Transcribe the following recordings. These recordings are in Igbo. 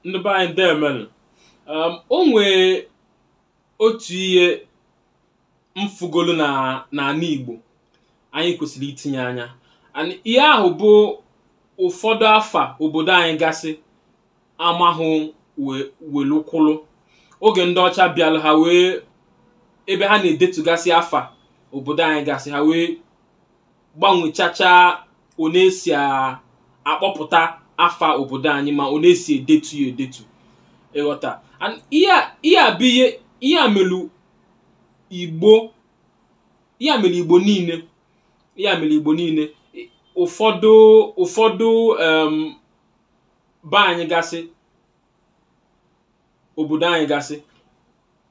ndị be anyị deemenụ um, o nwee otu ihe m fụgolu na n'ana Igbo anyị kwesịrị itinye anya and ihe ahụ bụ ụfọdụ afa obodo anyị gasị amahụ we- welukwụlụ oge ndị ọcha bịara ha wee ebe ha na-edetugasị afa obodo anyị gasị ha wee gbanwechacha one e si a- akpọpụta afa obodo anyị ma one e si edetu ya edetu ị ghọta And ihe a- ihe a bụ ihe ihe a melu igbo ihe a mere igbo niile ihe a mere igbo niile I- ụfọdụ ụfọdụ em, be anyị gasị obodo anyị gasị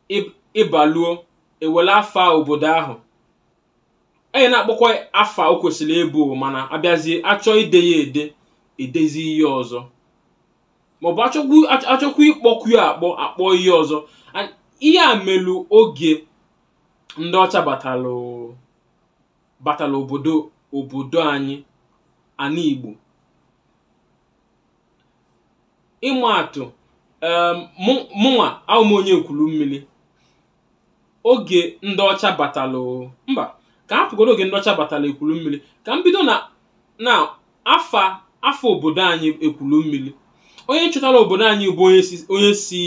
ị- ị baluo e were afa obodo ahụ anyị na-akpọkwa afa o kwesịrị ịbụ mana a bịazie a chọọ ide ya ede e dezie ihe ọzọ maọbụ achọkwu ach- achọkwu ịkpọkwu ya akpọ a kpọọ ihe ọzọ And ihe a melu oge ndị ọcha batalụ batalụ obodo obodo anyị ana igbo ịma atụ em, mụ- mụnwa ahụ m onye ekwulu mmiri oge ndị ọcha batala o mba ka a hapụgodu oge ndị ọcha batala ekwulu mmiri ka m bido na na afa afa obodo anyị ekwulu mmiri onye chọtara obodo anyị bụ onye si onye si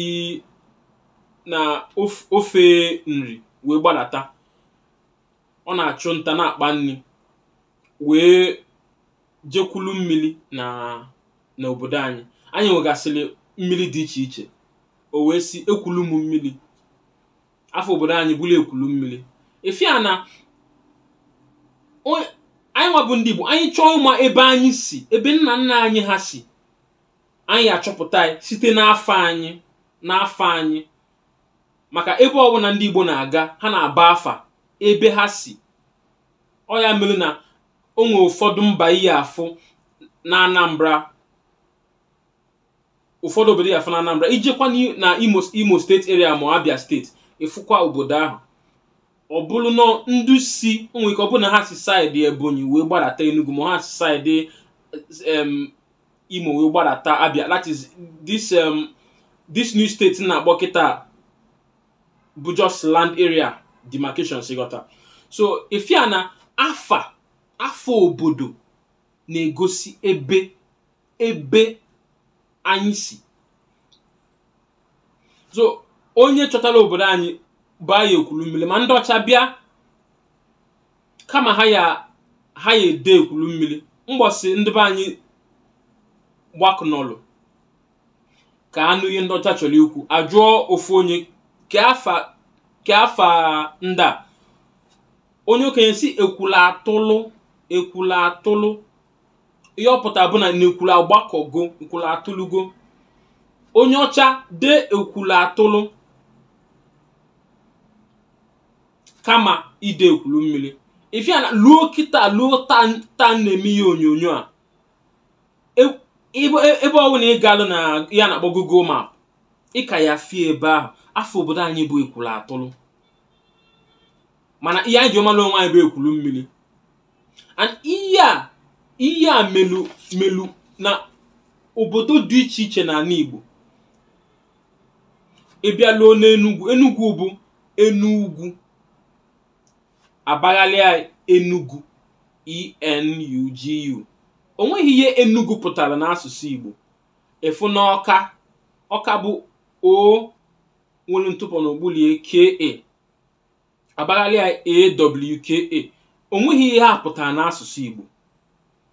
na of- ofe nri wee gbadata ọ na-achụ nta na-akpa nri wee jekwulu mmiri na n'obodo anyị anyị nwegasịrị mmiri dị iche iche o wee sị ekwulu m mmiri afa obodo anyị bụrụ ekwulu mmiri ife a na onye- anyị nwa bụ ndị Igbo anyị chọọ ịma ebe anyị si ebe nna nna anyị ha si anyị achọpụta ya site n'afa anyị n'afa anyị maka ebe ọbụla ndị Igbo na-aga ha na-aba afa ebe ha si ọ ya mere na o nwere ụfọdụ mba ị ya-afụ na anambra ụfọdụ obodo ị ya-afụ na anambra i jekwa n'i- na imo imo state area ma abia state ị fụkwa obodo ahụ ọ bụrụ na ndị si o nwere ike ọ bụrụ na ha si side ebonyi wee gbadata enugu ma ha si side em, imo wee gbadata abia that is this em, this new state m na-akpọ kịta bụ just land area demarcations ị ghọta so ị fụ ya na afa afa obodo na-egosi ebe ebe anyị si so onye chọtara obodo anyị baa ya ekwulu mmiri ma ndị ọcha bịa kama ha ya ha ya ede ekwulu mmiri mgbọsị ndị be anyị gbakọnọlụ ka a nụ ihe ndị ọcha chọrọ ikwu a jụọ ofu onye kee afa kee afa ndị a onye okenye sị ekwulu atụlụ ekwulu atụlụ ihe ọ pụtara bụ na n'ekwulu agbakọgo ekwulu atụlụgo onye ọcha dee ekwulu atụlụ kama ide ekwulu mmiri ị fụ ya na luo kịta luo taa taa m na-eme ihe onyonyo a E- ebe e- ebe ọbụla ị galụ n'ihe a na-akpọ google map ị ka ya afụ ya ebe ahụ afa obodo anyị bụ ekwulu atụlụ mana ihe anyị ji malụ onwe anyị bụ ekwulu mmiri and ihe a ihe a melu melu na obodo dị iche iche n'ala igbo ị bịaluo n'enugwu enugwu bụ enu ugwu a baghalịa enugu ENUGU o nweghị ihe enugu pụtara n'asụsụ igbo ị fụ na ọka ọka bụ O nwere ntụpọ n'okpulu ya KA a baghalịa AWKA o nweghị ihe ha pụtara n'asụsụ igbo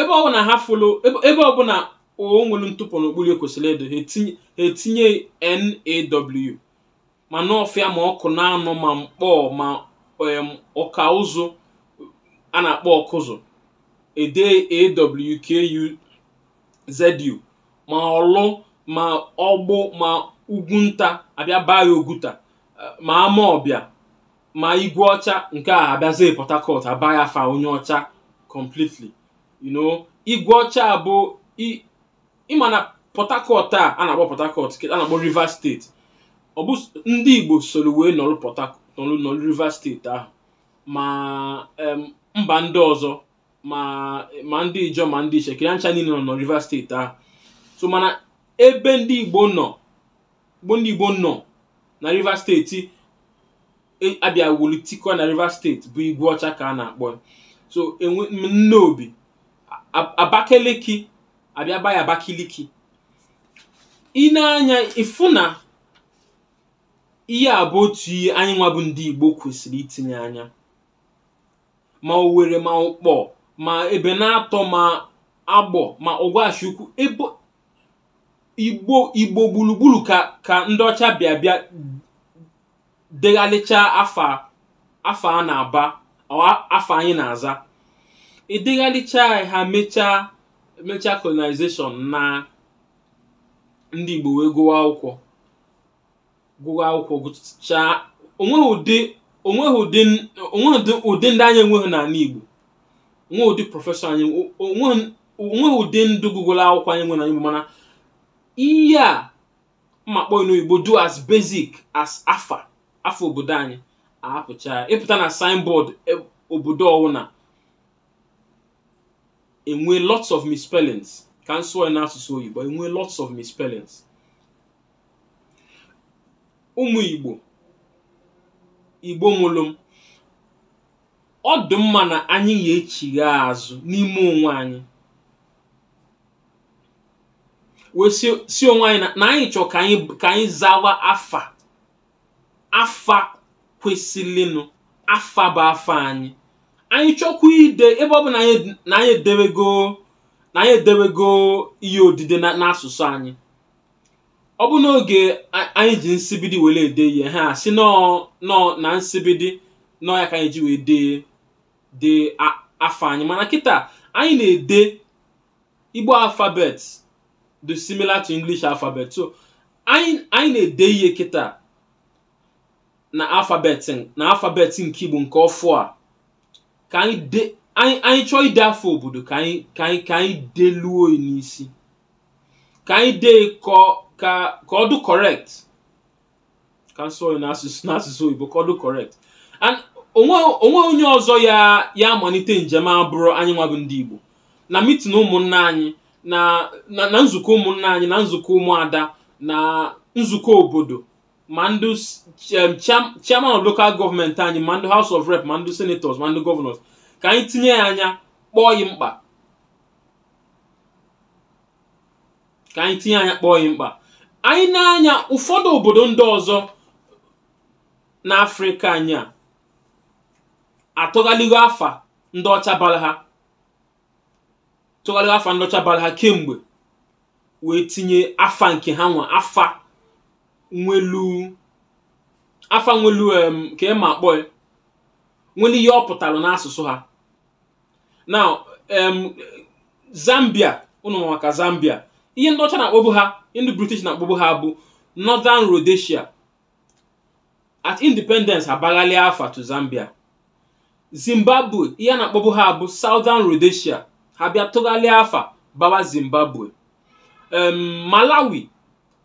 ebe ọ bụla ha fụlụ ebe ebe ọ bụla O nwere ntụpọ n'okpuru ya kwesịrị ịdị ha etinye ha etinye NAW ma nọfịa ma ọkụnanọ ma nkpọ ma em, ọka ụzụ a na-akpọ ọkụzụ e dee AWKUZU ma ọlụ ma ọgbụ ma ugwu nta a bịa baa ya oguta eh, ma ama ọbịa ma igwe ọcha nke a a bịazie port harcourt a baa ya afa onye ọcha completely you know igwe ọcha a bụ i- ị ma na port harcourt a a na-akpọ port harcourt ke- a na-akpọ rivers steeti ọ bụ s- ndị igbo soro wee nọrụ port Harc- nọrụ nọrụ rivers steeti ahụ ma em, mba ndị ọzọ ma ma ndị ijọ ma ndị ishekiri ha ncha niile nọ na rivers steeti ahụ so mana ebe ndị igbo nọ bụ ndị igbo nọ na rivers steeti e- abịa wulitikọ na rivers steeti bụ igwe ọcha ka a na-akpọ ya. so e nwee nne obi A- abakeleki a bịa baa ya abakaliki ị nee anya ị fụ na ihe a bụ otu ihe anyị nwa bụ ndị igbo kwesịrị itinye anya ma owere ma ụkpọ ma ebenatọ ma agbọ ma ọgwashi ukwu ebe igbo igbo gburugburu ka ka ndị ọcha bịa bịa deghalịchaa afa afa a na-aba ọ afa anyị na-aza edeghalịchaa ha mechaa mechaa colonization na ndị igbo wee gụwa akwụkwọ gụwa akwụkwọ gụchaa onweghị ụdị onweghị ụdị onweghị ụdị ụdị ndị anyị enweghị n'ala Igbo onweghị ụdị prọfesọ anyị o- onweghị onweghị ụdị ndụ gụgoro akwụkwọ anyị nwere n'ala Igbo mana ihe a m ma-akpọ n'oyibo dụ as basic as afa afa obodo anyị ahapụcha ya. ịpụta na signboard e- obodo ọwụna enwe lots of misspellings ka m sụọ ya n'asụsụ oyibo enwe lots of misspellings ụmụ igbo igbo mụrụ m ọ dị mma na anyị ga-echigha azụ n'ime onwe anyị wee sị onwe anyị na anyị chọọ ka anyị ka anyị zawa afa afa kwesịrịnụ afa bụ afa anyị anyị chọkwa ide ebe ọ bụ na anyị edewego na anyị edewego ihe odide n'asụsụ anyị ọ bụ n'oge a- anyị ji nsibidi were ede ihe ha sị nọọ nọọ na nsibidi nọọ ya ka anyị ji wee dee dee a- afa anyị mana kịta anyị na-ede igbo alfabet dị similar to english alphabet so anyị anyị na-ede ihe kịta na alfabet na alfabet nke igbo nke ọfụ a ka anyị de anyị anyị chọọ ide afa obodo ka anyị ka anyị ka anyị deluo ya n'isi ka anyị dee ka ka ka ọ dụ correct ka m sụọ ya n'asụsụ n'asụsụ oyibo ka ọ dụ correct and onwe onweghị onye ọzọ ya ya amalite njem a abụrọ anyị nwa bụ ndị igbo na mitin ụmụnna anyị na na na nzukọ ụmụnna anyị na nzukọ ụmụada na nzukọ obodo ma ndị s- em, cham- chairman of local government anyị ma ndị house of rep ma ndị senators ma ndị governors ka anyị tinye ya anya kpọọ ya mkpa ka anyị tinye anya kpọọ ya mkpa anyị nee anya ụfọdụ obodo ndị ọzọ n'afrịka anyị a atụghaligo afa ndị ọcha bara ha tụgharịa afa ndị ọcha bara ha kemgbe wee tinye afa nke ha nwa afa nwelu afa nwelu em ka ị ma akpọ ya nwere ihe ọ pụtara n'asụsụ ha now em, zambia unu ma maka zambia ihe ndị ọcha na-akpọbu ha ihe ndị british na-akpọbu ha bụ northern rhodesia at independence ha baghalị afa to zambia zimbabwe ihe a na-akpọbu ha bụ southern rhodesia ha bịa tụgharịa afa bawa zimbabwe em, malawi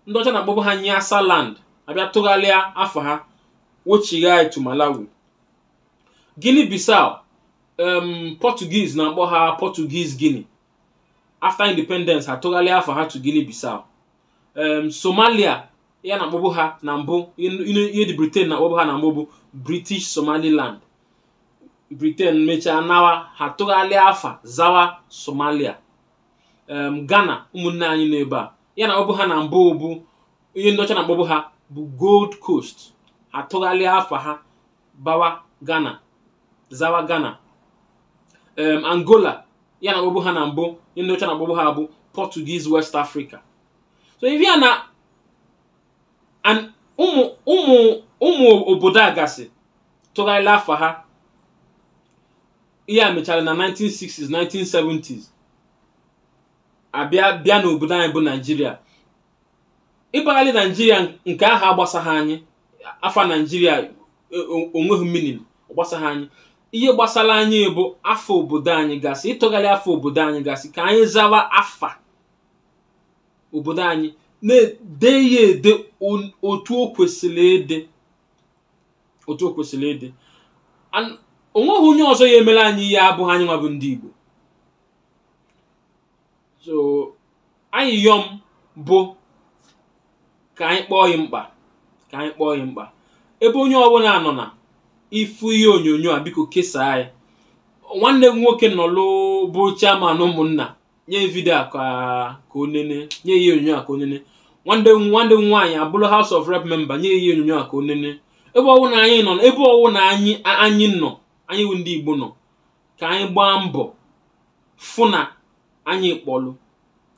ndị ọcha na-akpọbu ha nyasaland ha bịa tụgharịa afa ha wechigha to malawi Guinea Bissau um, Portuguese na-akpọ ha Portuguese Guinea after independence ha tụgharịa afa ha to Guinea Bissau um, Somalia ihe a na-akpọbu ha na mbụ ihe ndị Britain na-akpọbu ha na mbụ bụ British Somaliland Britain mechaa nawa ha tụgharịa afa zawa Somalia em, ghana ụmụnne anyị nọ ebe a ihe a na-akpọbu ha na mbụ bụ ihe ndị ọcha na-akpọbu ha bụ gold coast ha tụgharịa afa ha bawa ghana zawa ghana em, angola ihe a na-akpọbu ha na mbụ ihe ndị ọcha na-akpọbu ha bụ portuguese west africa so ị fụ ya na an- ụmụ ụmụ ụmụ obodo a gasị tụgharịla afa ha ihe a mechara na 1960s 1970s a bịa bịa n'obodo anyị bụ naijiria ịbagharị naijiria nke ahụ agbasaghị anyị afa naijiria e, o- onweghị meaning gbasaghị anyị ihe gbasara anyị bụ afa obodo anyị gasị ịtụgharị afa obodo anyị gasị ka anyị zawa afa obodo anyị na-ede ya ede on- otu o kwesịrị ịdị otu o kwesịrị ịdị and o nweghị onye ọzọ ya-emere anyị ya abụghị anyị nwa bụ ndị Igbo so ayịyọ m bụ ka anyị kpọọ ya mkpa ka anyị kpọọ ya mkpa ebe onye ọbụla nọ na-afụ ihe onyonyo a biko kesaa ya nwanne m nwoke nọlụ bụ chairman ụmụnna nye vidio a ka ka onene nye ihe onyonyo a ka o nenee nwanne nwanne m nwaanyị abụrụ House of Rep member nye ihe onyonyo a ka o nenee ebe ọwụna anyị nọ ebe ọwụna anyị anyị nọ anyị bụ ndị Igbo nọ ka anyị gbaa mbọ fụ na anyị kpọlụ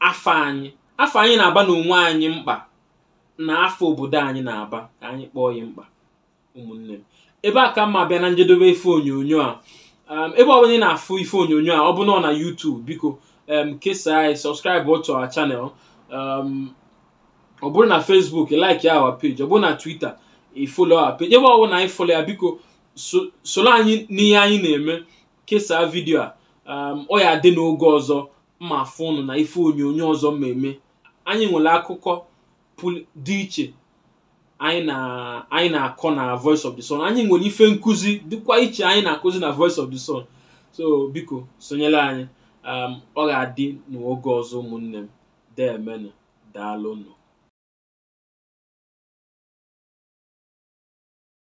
afa anyị afa anyị na-aba n'onwe anyị mkpa na afa obodo anyị na-aba ka anyị kpọọ ya mkpa ụmụnne m ebe a ka m ma-abịa na njedebe ife onyonyo a um, ebe ọ bụla ị na-afụ ife onyonyo a ọ bụ nọ na YouTube biko um, kesaa anyị subscribe to our channel um, ọ bụrụ na Facebook like our page ọ bụrụ na Twitter ị follow our page ebe ọ bụla anyị folo ya biko so- soro anyị n'ihe anyị na-eme kesaa vidio a um, ọ ya-adị n'oge ọzọ m ma-afụ ụnụ na ife onyonyo ọzọ m ma-eme anyị nwere akụkọ dị iche anyị na-akọ na voice of the sun anyị nwere ife nkụzi dịkwa iche anyị na-akụzi na voice of the sun so biko sonyere anyị um, ọ ga-adị n'oge ọzọ ụmụnne m deemenụ daalụnụ